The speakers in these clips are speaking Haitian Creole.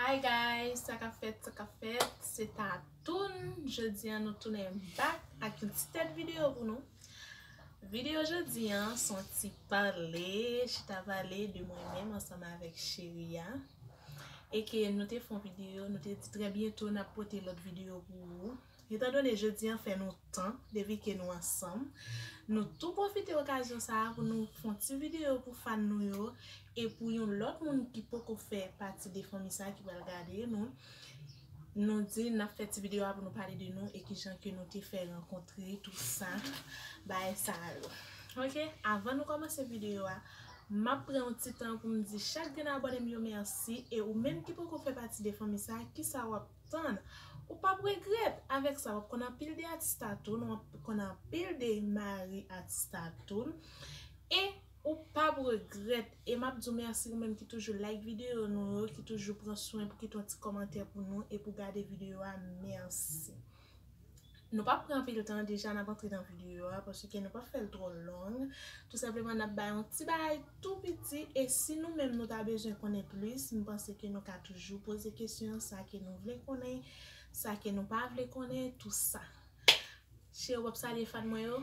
Hi guys sa kap fèt sa kap fèt se tatoune jodi an nou tounen back ak yon ti tèt video pou nou video jodi an son ti pale chita pale de mwen menm ansanm avèk cheri a e ke nou te fon video nou te di trè byento nap pote lòt video pou ou. Etan done jodi an fè nou tan depi ke nou ansanm, nou tou pwofite okazyon sa a pou nou fon ti videyo pou fan nou yo e pou yon lòt moun ki poko fè pati de fanmi sa ki pral gade nou, nou di nap fè ti videyo a pou nou pale de nou e kijan ke nou te fè rankontre tout sa bagay sa yo. Ok, avan nou kòmanse videyo a, map pran yon ti tan poum di chak grenn abòne m yo mèsi e ou menm ki poko fè pati de fanmi sa kisa wap. Tann, ou pap regrèt, avèk sa wap konn anpil de atis tatoune, wap konn anpil de mari atis tatoune, e ou pap regrèt, e map di w mèsi ou menm ki toujou like videyo nou yo, ki toujou pran swen pou kite yon ti kòmantè pou nou e pou gade videyo a, mèsi. Nou pap pran anpil tan deja nap antre nan videyo a paske nou pap fèl twò long tou senpleman nap bay yon ti bagay tou piti e si nou menm nou ta bezwen konnen plis m panse ke nou ka toujou poze kesyon sa ke nou vle konnen sa ke nou pa vle konnen tou sa. Cheri w ap salye fan mwen yo?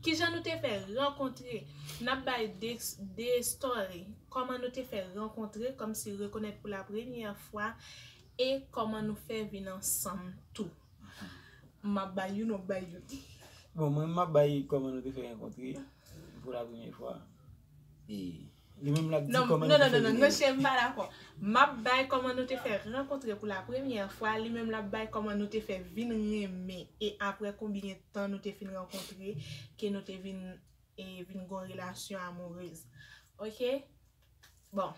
Kijan nou te fè rankontre, n ap bay de story kòman nou te fè rankontre kòmsi rekonèt pou la premyè fwa e kòman nou fè vin ansanm tou. M ap bay youn w ap bay youn. Bon mwen m ap bay kòman nou te fè rankontre pou la premyè fwa e. Li menm lap di koman nou te fè vini. Non cheri m pa dakò. Map bay koman nou te fè rankontre pou la premyè fwa, li menm lap bay koman nou te fè vin renmen e aprè konbyen tan nou te fin rankontre ke nou te vin vin gon relasyon amourez. Ok bon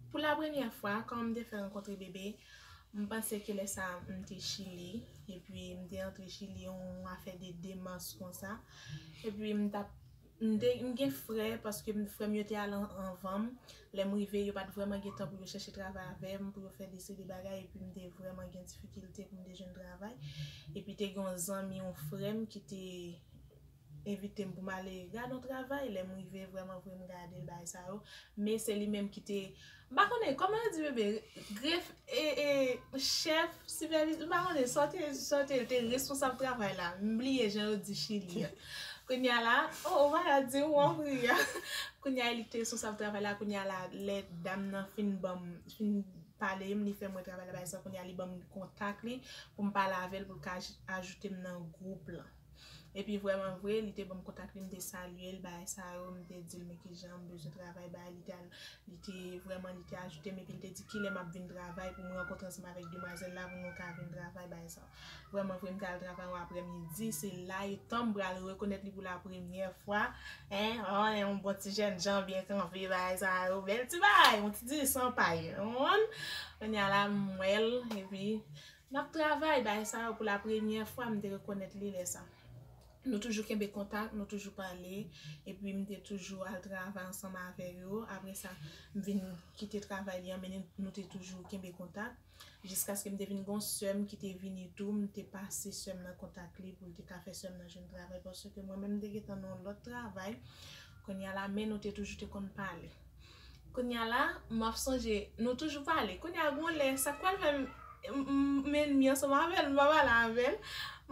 pou la premyè fwa koman m te fè rankontre Bebe m panse ke lè sa m te chili epi m te antre chili yon afè de 2 mas konsa epi m tap M gen frè paske frè m yo te al anvan m. Lè m rive, yo pa t vrèman gen tan pou yo chèche travay avè m, pou yo fè deside bagay epi m te vrèman gen difikilte pou m te jwenn travay. Epi te gen yon zanmi yon frè m ki te envite m pou m ale gade yon travay. Lè m rive, vrèmanvre m gade bagay sa yo. Men se li menm ki te. M pa konnen, kòman yo di bebe, gref, e, e, chèf, sipèviz, m pa konnen, sa w te, sa w te, te responsab travay la, m bliye jan yo di Chili a. Kounye a la, o, o, vaya di ou an pri a. Kounye a e li ki te responsab travay la, kounye a la, lè dam nan fin ban m, fin pale m, li fè m wè travay la bay sa, kounye a li ban m kontak li, pou m pale avè l pou l ka ajoute m nan gwoup lan. Epi vrèman vre, li te ban m kontak li, m te salye l, bagay sa yo, m te di l men ki jan m bezwen travay bay, li te al, li te, vrèman li te ajoute m epi l te di kilè m ap vin travay pou m rankontre ansanm avèk demwazèl la pou nou ka vin travay, bagay sa yo. Vrèman vre, m te al travay yon aprèmidi, se la etan m pral rekonèt li pou lapremyè fwa, en, an, en yon bon ti jèn jan byen kanpe, bagay sa yo, bèl ti bagay, yon ti di san pay, ou konprann? Kounye a la m wè l, epi Nap travay bay sa yo pou la premyè fwa m te rekonèt li lè sa. Nou toujou kenbe kontak, nou toujou pale, epi m te toujou al travay ansanm avè yo, apre sa m vin kite travay li an men nou te toujou kenbe kontak, jiskaske m te vin gen yon sè m ki te vini tou, m te pase sè m nan kontak li pou l te ka fè sè m nan jwenn travay paske mwen menm m te gentan nan yon lòt travay, kounye a la men nou te toujou te konn pale. Kounya la map sonje nou toujou pale kounya gon lè sak pral fè m enmi ansanm avèl m pa pale avèl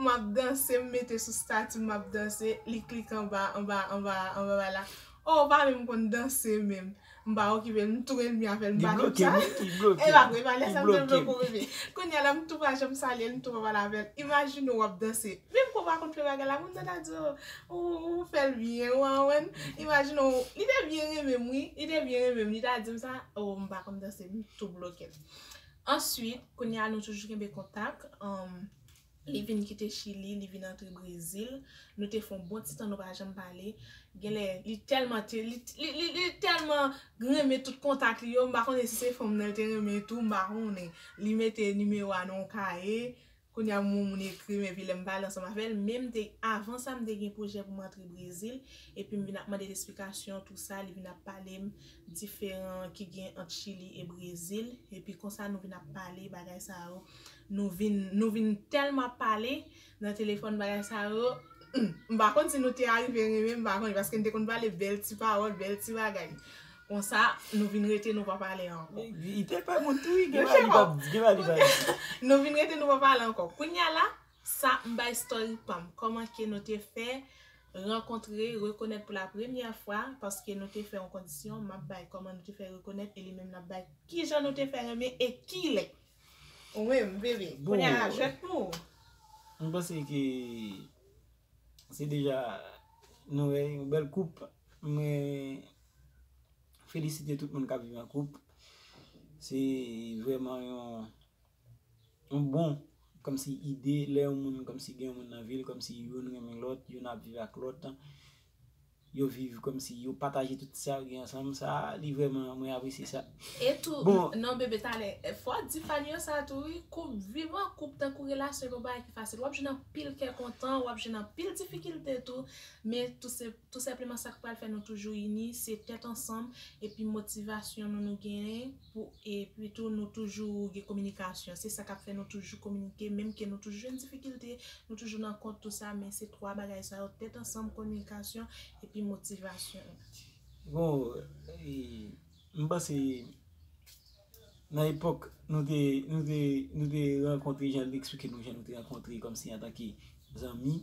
map danse m mete sou stati map danse li klike anba anba anba anba bagay la oh ou pa menm konn danse menm m pa okipel m tou enmi avèl m pa menm sa epa vre epa lèsa m te blokem kounya la m tou pa janm salyel m tou pa pale avèl imajine w wap danse Menm kòm a kontre bagay la, moun sa ta di ou, ou fè l byen, ou anwenn. Imajine w, li te byen renmen m wi, li te byen renmen m, li ta di m sa, oo m pa konn danse, m tou bloke. Answit, kounye a nou toujou kenbe kontak, li vin kite Chili, li vin antre Brezil, nou te fè yon bon ti tan nou pa janm pale, genlè li tèlman te, li tèlman renmen tout kontak li yo, m pa konnen si se fanm nan l te renmen tou, m pa konnen, li mete nimewo a nan yon kaye, Kounya m wè moun ekri m epi lè m pale ansanm avè l men m te avan sa m te gen pwojè pou m antre Brezil epi m vin ap mande l esplikasyon tou sa li vin ap pale m diferan ki gen ant Chili e Brezil epi konsa nou vin ap pale bagay sa yo nou vin nou vin tèlman ap pale nan telefòn bagay sa yo humm m pa konn si nou te arive renmen m pa konn paske n te konn pale bèl ti pawòl bèl ti bagay. Konsa nou vin rete nou pa pale anko. Li te pè moun tou wi gen bagay li pap di gen bagay li pa di. Nou vin rete nou pa pale anko. Kounya la sa m bay story pam. Koman ke nou te fè rankontre, rekonèt pou la premyè fwa paske nou te fè yon kondisyon map bay koman nou te fè rekonèt e li menm lap bay kijan nou te fè renmen e kilè. Ou menm bebe kounya la jwèt pou ou. M panse ke se deja nou wè yon bèl koup men felisite tout moun kap viv an koup se vreman yon bon kòmsi ide lè yon moun kòmsi gen yon moun nan vil kòmsi youn renmen lòt youn ap viv ak lòt yo viv kòmsi yo pataje tout sa yo gen ansanm sa li vreman mwen apresye sa non bebe talè fò di fanny yo sa tou wi koup viv an koup tankou relasyon se pa yon bagay ki fasil wap jwenn anpil kè kontan wap jwenn anpil difikilte tou men tou se. Tou senpleman sa k pral fè nou toujou ini se tèt ansanm epi motivasyon nou nou genyen pou epi tou nou toujou gen kominikasyon se sa k ap fè nou toujou kominike menm ke nou toujou jwenn difikilte nou toujou nan kont tou sa men se 3 bagay sa yo tèt ansanm kominikasyon epi motivasyon. Bon, m panse. Nan epòk nou te nou te nou te rankontre jan li eksplike nou jan nou te rankontre kòmsi antanke zanmi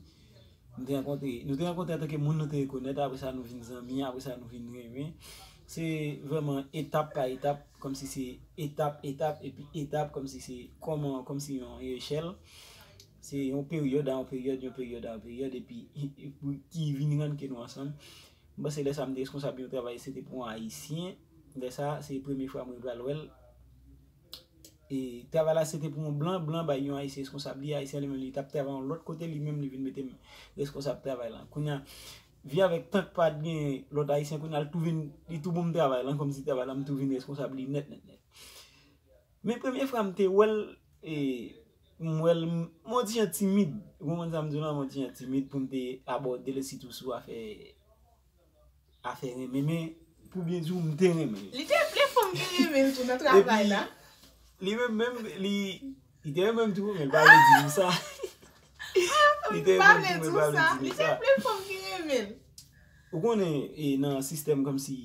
nou te rankontre nou te rankontre antanke moun nou te rekonèt apre sa nou vin zanmi apre sa nou vin renmen se vrèman etap pa etap kòmsi se etap etap epi etap kòmsi se kòman kòmsi yon echèl se yon peryòd a yon peryòd yon peryòd a yon peryòd epi ki vin rann ke nou ansanm m panse lè sa m te reskonsab yon travay se te pou yon ayisyen. Lè sa se premye fwa mwen pral wèl e travay la se te pou yon blan, blan bay yon ayisyen reskonsab li, ayisyen li menm li tap travay yon lòt kote li menm li vin metem reskonsab travay lan. Kounya vi avèk tank pat gen lòt ayisyen kounya li tou vin li tou bonm travay lan kòmsi travay lan m tou vin reskonsab li nèt nèt nèt. Men premye fra m te wèl e m wèl m yon ti jan timid ou konprann sa m di w lan m yon ti jan timid poum te abòdel sitou sou afè Afè renmen men pou byen di w m te renmen l. Li te vle fanm te renmen l tou nan travay la. Epi li menm menm li te renmen m tou men l pa vle di m sa. Li te renmen m tou men l pa vle di m sa. Li te vle fanm te renmen l. Ou konnen nan sistèm kòmsi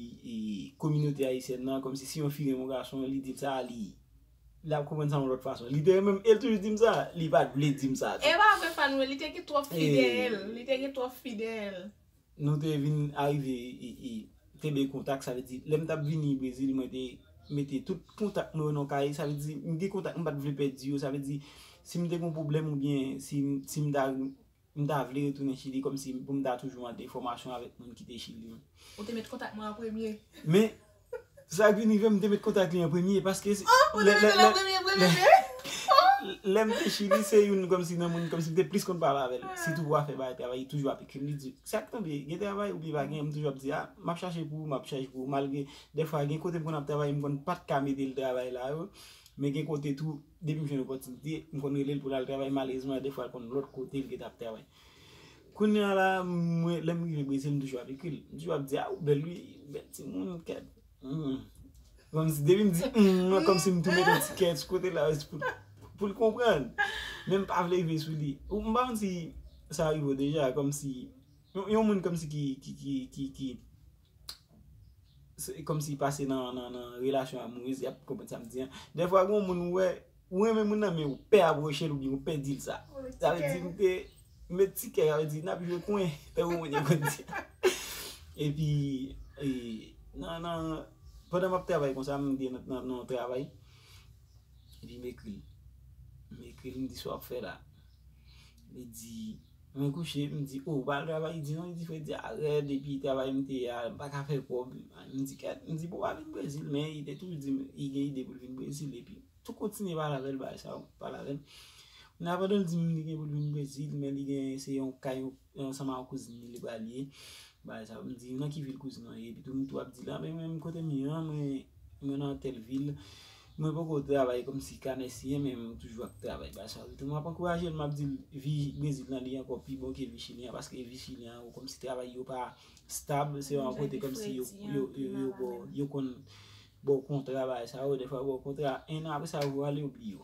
kominote ayisyèn nan kòmsi si yon fi renmen yon gason li di l sa li ap konprann sa yon lòt fason. Li te renmen m e l toujou di m sa. Li pa t vle di m sa tou. E pa vre Fanoue li te gen twòp fi dèyè l. Li te gen twòp fi dèyè l. Nou te vin arive kenbe kontak, sa vle di lè m t ap vini Brezil mwen te mete tout kontak mwen yo nan yon kaye, sa vle di m gen kontak m pa t vle pèdi yo, sa vle di si m te gen yon pwoblèm oubyen si m ta m ta vle retounen Chili kòmsi pou m ta toujou an enfòmasyon avèk moun ki te Chili. Ou te met kontak mwen an premye. Men, Sak vin rivem mte met kontak li an premye paske si Oh ou te met el an premye premye Lem te chili se youn komsi nan moun komsi mte plis konn pale avel sitou pou afè bagay travay li toujou ap ekrim li di sak tonbe gen travay oubyen pa gen m toujou ap di a map chache pou ou map chache pou ou malgre dèfwa gen kote m konn ap travay m konn pat ka metel travay la yo men gen kote tou depim jwenn opotinite m konn relel poul al travay malezman dèfwa l konn lot kote l gentan ap travay. Kounya la mwen lèm rive brezil m toujou ap ekril m toujou ap di a ou bèl wi bèl timoun kèt humm kòmsi depim di humm an kòmsi m tou met yon ti kè sou kote la jis pou poul konprann men m pa vle rive sou li m pa konn si sa rive w deja kòmsi yon moun kòmsi ki ki ki. Se kòm si pase nan relasyon amourez yap konprann sa m di an. Dè fwa gwen moun ou wè, ou renmen moun nan men ou pè avouche l ou byen ou pè di l sa. Sa vle di mte met ti kè sa vle di nap jwe kwen. Tè ou mwen te konn di. E pi nan nan pandan map travay konsa m te nan yon travay. E pi m ekri l. M ekri l m di sa wap fè la. Li di, mwen kouche, m di, o, ou pa al travay? Li di, non, li di, frè di a rèd, epi travay m te ye a, m pa ka fè kòb. M di, kèt, m di, bon, w a vin Brezil, men li te toujou di m, li gen ide pou l vin Brezil, epi tou kontinye pale avè l bagay sa yo, pale avè l. Kounye a pandan l di m li gen pou l vin Brezil, men li gen, se yon ka yon. Yon sa ma kouzin li li pral ye bagay sa yo m di nan ki vil kouzin an ye epi tou m tou ap di la men menm kote m ye an mwen mwen nan tèl vil mwen poko travay kòmsi kanè siye men m toujou ap travay bagay sa yo epi tou m ap ankouraje l m ap di l vi brezil lan li ankò pi bon ke vi chili an paske vi chili an kòmsi travay yo pa stab se yon kote kòmsi yo yo yo ba w yo konn ba w kontra bagay sa yo dèfwa yo ba w kontra 1 an apresa yo vwale yo bliye w.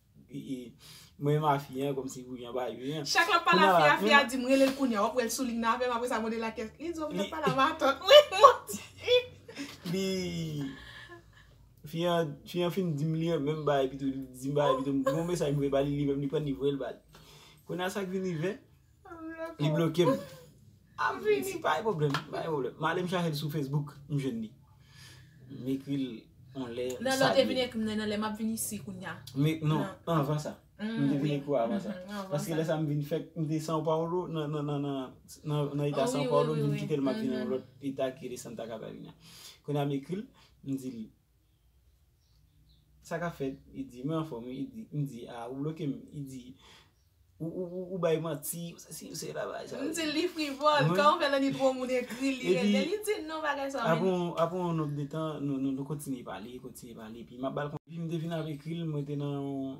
Mwen ma fi an komsi pou jan pa jwe an. Chak lap pale a fi a fi a dim relel kounya wap wèl soulign avèm apresa mwen de la kès li di w vle pale a matant mwen manti. Li fi an fi an fin dim li menm bagay pito li dim bagay pito m gon mesaj m voye bali li menm li pran li voyel bal kounya sak vin rive. Li bloke m. Ap vini pa gen pwoblèm. Pa gen pwoblèm. M ale m chache l sou Facebook, m jwenn li. M ekri l yon lè, m salye l. Nan lè w te vin ekri m nan, nan lè m ap vin isi kounya. Non, anvan sa. M te vin ekri w avan sa. Paske lè sa m vin fèk, m te São Paulo, nan eta São Paulo, m vin kite l m ap vin nan yon lòt eta ki rele Santa Catarina. Kounya m ekri l, m di l. Sa ka fèt, li di, mwen anfòm wi, li di, m di, a, ou bloke m, li di, ou bay manti, ou sesi, ou sela, bagay sa yo. M di l li frivòl, kan ou fè lanni twò moun ekri l, li ret byen, li di non bagay sa yo men. Apre yon nonb de tan, nou kontinye pale, kontinye pale, epi m ap ba l konsèy, epi m te fin ap ekri l, mwen te nan yon.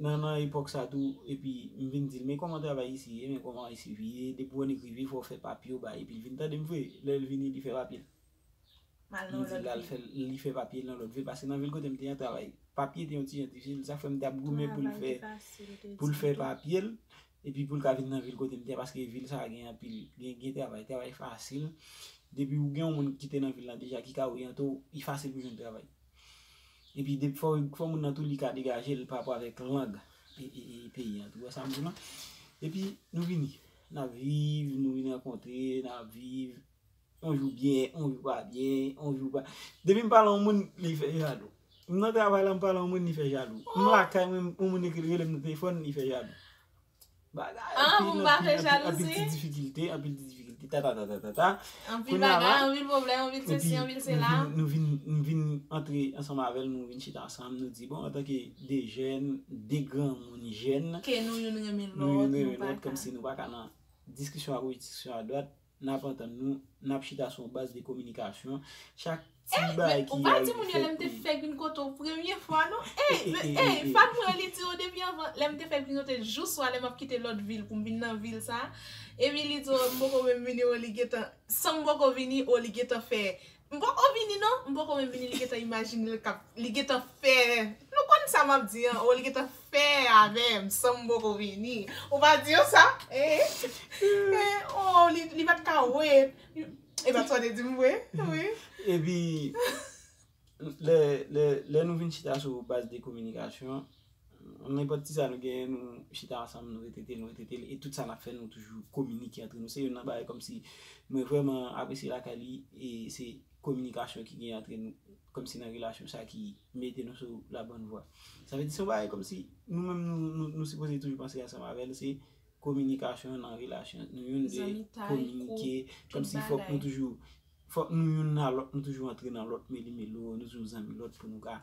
nan nan epòk sa tou epi m vin dil men kòman travay isi ye men kòman isi vi ye depi w annik rive fò w fè papye w bay epil vin tande m vre lè l vini li fè papye l m di lal fè li fè papye l nan lòt vil paske nan vil kote m te an travay papye te yon ti jan difisil sa fè m tap goumen pou l fè pou l fè papye l epi pou l ka vin nan vil kote m te an paske vil sa gen anpil gen travay travay fasil depi w gen yon moun ki te nan vil la deja ki ka oryante w li fasil pou jwenn travay. Epi de fò fò moun nan tou li ka degaje l pa rapò avèk lang peyi an tou. Ou wè sa m di w la? Epi nou vini, n ap viv, nou vin rankontre, n ap viv. On jou byen, on jou pa byen, on jou pa Depi m pale yon moun, li fè jalou. M nan travay la m pale yon moun li fè jalou. M lakay mwen yon moun rele m nan telefòn li fè jalou. An pou m pa fè jalouzi. Anpil ti difikilte, anpil ti difikilte, tatatatatata. Anpil bagay, anpil pwoblèm, anpil sesi, anpil sela. Nou vin, nou vin antre ansanm avè l, nou vin chita ansanm, nou di bon antanke 2 jèn, 2 granmoun jèn. Ke nou youn renmen lòt, nou pa ka. Nou youn renmen lòt kòmsi nou pa ka nan diskisyon a goch, diskisyon a dwat. N ap antann nou, n ap chita sou yon baz de kominikasyon. Chak ti bagay ki rive fèt pou li. Ey, men ou pa di moun yo lè m te fèk vin kote w premye fwa non. Ey, men ey, fad mwen li di w depi anvan lè m te fèk vin kote l jou swa lè m ap kite lòt vil pou m vin nan vil sa a. Epi li di w m poko menm vini o li gentan san m poko vini o li gentan fè M poko vini non, m poko menm vini li gentan imajine l kap, li gentan fè, nou konn sa map di an, oh li gentan fè avèm san m poko vini, ou pa di yo sa? eh, eh oh li pat ka wait, e bat sa w te di m vre wi. Epi lè nou vin chita sou baz de kominikasyon. Nenpòt ti sa nou genyen nou chita ansanm nou retrete l nou retrete l e tout sa n ap fè nou toujou kominike antre nou se youn nan bagay kòmsi mwen vrèman apresye lakay li e se kominikasyon ki genyen antre nou kòmsi nan relasyon sa ki mete nou sou la bòn vwa sa vle di se yon bagay kòmsi nou menm nou sipoze toujou panse ansanm avè l se kominikasyon nan relasyon nou youn de kominike kòmsi fòk nou toujou Fòk nou youn nan lòt nou toujou antre nan lòt meli melo nou toujou zanmi lòt pou nou ka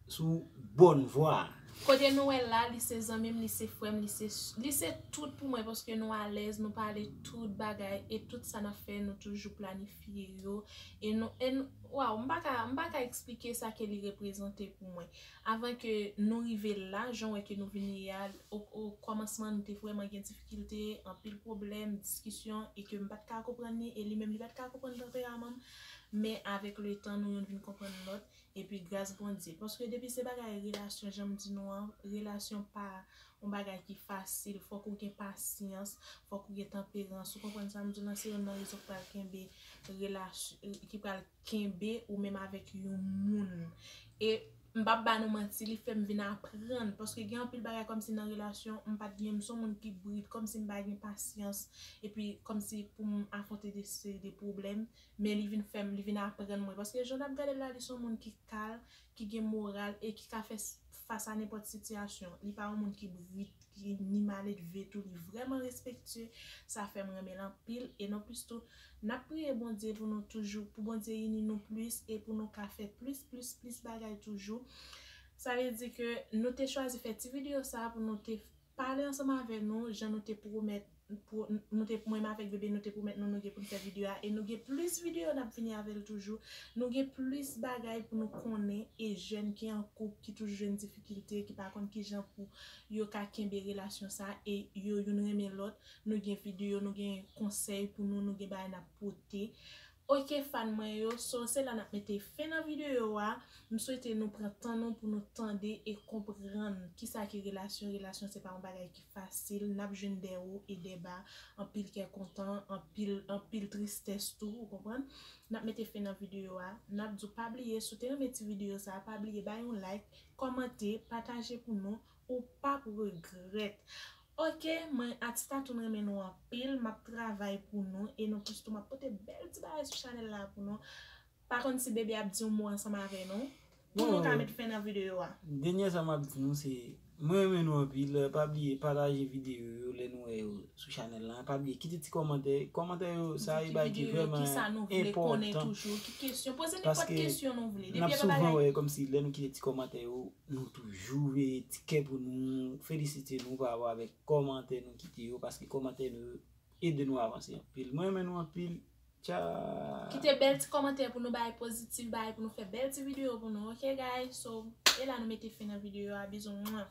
sou bòn vwa a. Kote nou wè la li se zanmim li se frèm li se li se tout pou mwen paske nou alèz nou pale tout bagay e tout sa nap fè nou toujou planifye yo e nou e nou waw m paka m paka esplike sa ke li reprezante pou mwen Avan ke nou rive la, jan w wè ke nou vin ye a, o kòmansman nou te vrèman gen difikilte, anpil pwoblèm, diskisyon, e ke m pa t ka konprann li, e li menm li pa t ka konprann tanperaman m, men avèk le tan nou youn vin konprann lòt, epi gras Bondye. Paske depi se bagay relasyon jan m di nou an, relasyon pa yon bagay ki fasil, fòk ou gen pasyans, fòk ou gen tanperans, ou konprann sa m di w lan, se youn nan rezon k pral kenbe relasyon, ki pral. kenbe ou menm avèk yon moun e m pap ba nou manti li fèm vin aprann paske gen anpil bagay kòmsi nan relasyon m pat gen m son moun ki brit kòmsi m pa gen pasyans epi kòmsi pou m afwonte de seri de pwoblèm men li vin fèm li vin aprann mwen paske jan nap gadel la li son moun ki kal ki gen moral e ki ka fè fas a nenpòt sitiyasyon. Li pa yon moun ki brit, ki ni maledve tou, li vrèman respektye, sa fè m renmen l anpil e non plis tou, n ap priye Bondye pou nou toujou, pou Bondye ini nou plis e pou nou ka fè plis plis plis bagay toujou. Sa vle di ke nou te chwazi fè ti videyo sa pou nou te Pale ansanm avè nou jan nou te pwomèt nou te mwen avèk bebe nou te pwomèt nou nou gen poun fè video a e nou gen plis video nap vini avèl toujou nou gen plis bagay pou nou konnen e jèn ki an koup ki toujou jwenn difikilte ki pa konn kijan pou yo ka kenbe relasyon sa e yo youn renmen lòt nou gen video nou gen konsèy pou nou nou gen bagay nap pote Ok fan mwen yo, so se la nap mete fen nan video a, m swete nou pran tan nou pou nou tande e konprann kisa ki relasyon, relasyon se pa yon bagay ki fasil, nap jwenn dè wo e dè ba, anpil kè kontan, anpil anpil tristès tou ou konprann, nap mete fen nan video a, nap di w pa bliye si w te renmen ti video sa pa bliye bay yon like, kòmante, pataje pou nou. Ou pap regrèt. Ok mwen ak statoun renmen nou anpil map travay pou nou e nou tous tou map pote bèl ti bagay sou chanèl la pou nou pa konn si beby ap di yon mo ansanm avè nou pou nou ka met fen nan video a. Denyè sa map di nou se mwen renmen nou anpil pa bliye pataje video yo lè nou wè yo sou chanèl la pa bliye kite ti kòmantè kòmantè yo sa e bagay ki vrèman enpòtan paske nap souvan wè kòmsi lè nou kite ti kòmantè yo Nou toujou veye ti kè pou nou felisite nou pa rapò avèk kòmantè nou kite yo paske kòmantè nou yo ede nou avanse anpil. Mwen renmen nou anpil tcha. Kite bèl ti kòmantè pou nou bay positif bay pou nou fè bèl ti video pou nou ok guy so e la nou mete fen nan video a bizou mwah.